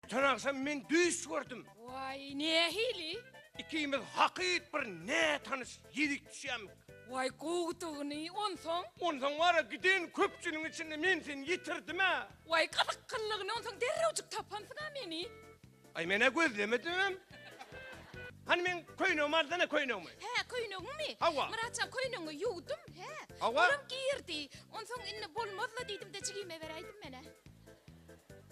Öten agşam men düýş gördüm. Waý, nähili? Ikimiz hakyt bir nätanyş ýigit düşýämik. Waý, gowudygyny, onsoň? Onsoň wara giden köpçüligiň içinde men seni ýitirdim-ä. Waý, gyzyk kyllygyny, onsoň derrewjik tapansyň-a meni. Aý, men-ä gözlemedimem. Hany meň köýnegim aldana köýnegimi. Hä, köýnegiňmi? Hawa. Myratjan, köýnegiňi ýuwdum, hä? Hawa. Olam girdi. Onsoň indi bolmaz-la diýdim-de jigime beräýdim men-ä.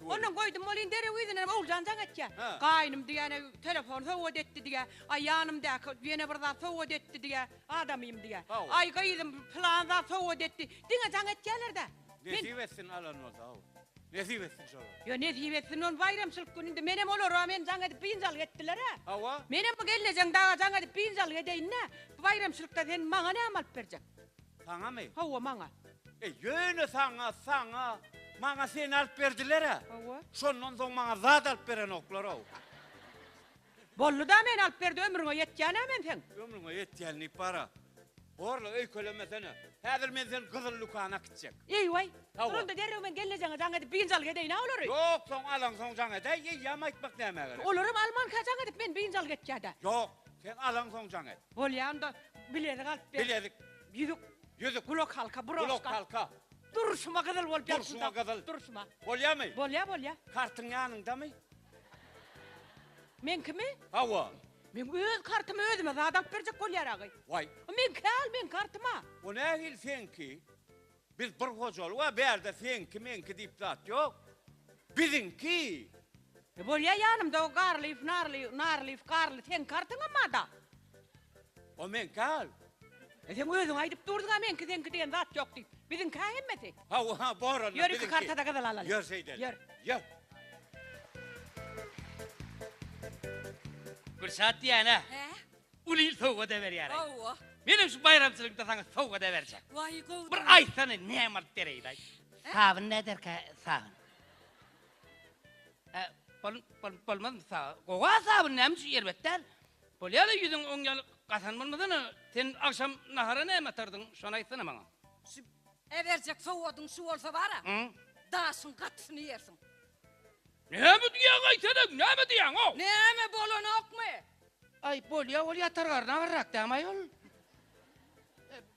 Ondan goýdum welin derew yzyna Oguljan jaň etýär. Gaýnym diýýän-ä telefon sowgat etdi diýýär. Aý ýanymdaky ýene bir zat sowgat etdi diýýär. Adamym diýýär. Aý gyzym pylan zat sowgat etdi. Diňe jaň etýärler-dä. Nesip etsin alan bolsa hawa. Nesip etsin şolara. Ýo nesip etsin ony baýramçylyk güni indi menem olara men jaň edip biynjalyk etdiler-ä. Hawa. Menem bu gelnejeň daga jaň edip biynjalyk edeýin-dä. Bu baýramçylykda sen maňa näme alyp berjek? Saňamy? Hawa, maňa. E, ýöne saňa, saňa, maňa seni alyp berdiler-ä. Hawa. Şondan soň maňa zat alyp berenoklar-ow. Boldy-da, meni alyp berdi, ömrüňe ýetýän-ä men seň. Ömrüňe ýetýän diýip bar-a. Borla, öýkelemesene. Häzir men seni gyzyl dükana äkitjek. Eý-waý! Hawa. Onda derrew men gelnejeňe jaň edip, biynja alyk edäýin-ä olary. Ýok, soň alaňsoň jaň edäý, eýýäm aýtmak nämä gerek? Olaram almanka jaň edip, men biynja alyk etjä-dä. Ýok, sen alaňsoň jaň et. Bolýa onda bilezik alyp ber. Bilezik. Ýüzük. Ýüzük. Gulak halka, broşka. Gulak halka. Durşuma gyzyl bolup ýatsyn. Durşuma gyzyl. Durşuma. Bolýamy? Bolýa, bolýa. Kartyň ýanyňdamy? Meňkimi? Hawa. Men öz kartymy özüme zat alyp berjek bolýar agy. Waý. Meňkä al meň kartyma. O nähili seňki? Biz bir hojalyk a bärde seňki meňki diýip zat ýok. Biziňki. E bolýa ýanymda o garlyf narly narlyf garly seň kartyňam ada. O meňki al. E sen özüň aýdyp durdyňa meňki seňki diýen zat ýok diýip. Biziňki a hemmesi. Ha o ha bor onda biziňki. Ýör iki kartada gyzyl alaly. Ýör şeýdeli. Ýör. Ýör. Gülşat diýýän a. He. Uly sowgat-a berýärin. Menem şu baýramçylykda saňa sowgat-a berjek. Bir aýtsana, näme alyp bereýin-aý? Sabyn näderkä, sabyn? Ä, bol, bol, bolmazmy sabyn? Gowa sabyn, näme üçin erbet däl? Bolýa-da, ýüzüň oň ýaly gasan bolmasana. Sen agşam nahara näme atardyň, şony aýtsana maňa. Şu äberjek sowgadyň şu bolsa bar-a, daşyň gatysyny ýersiň. Näme diýýäň aýteleň näme diýýäňow. Näme bolanokmy. Aý bolýa ol ýatar garny agyrrak dämi aýol.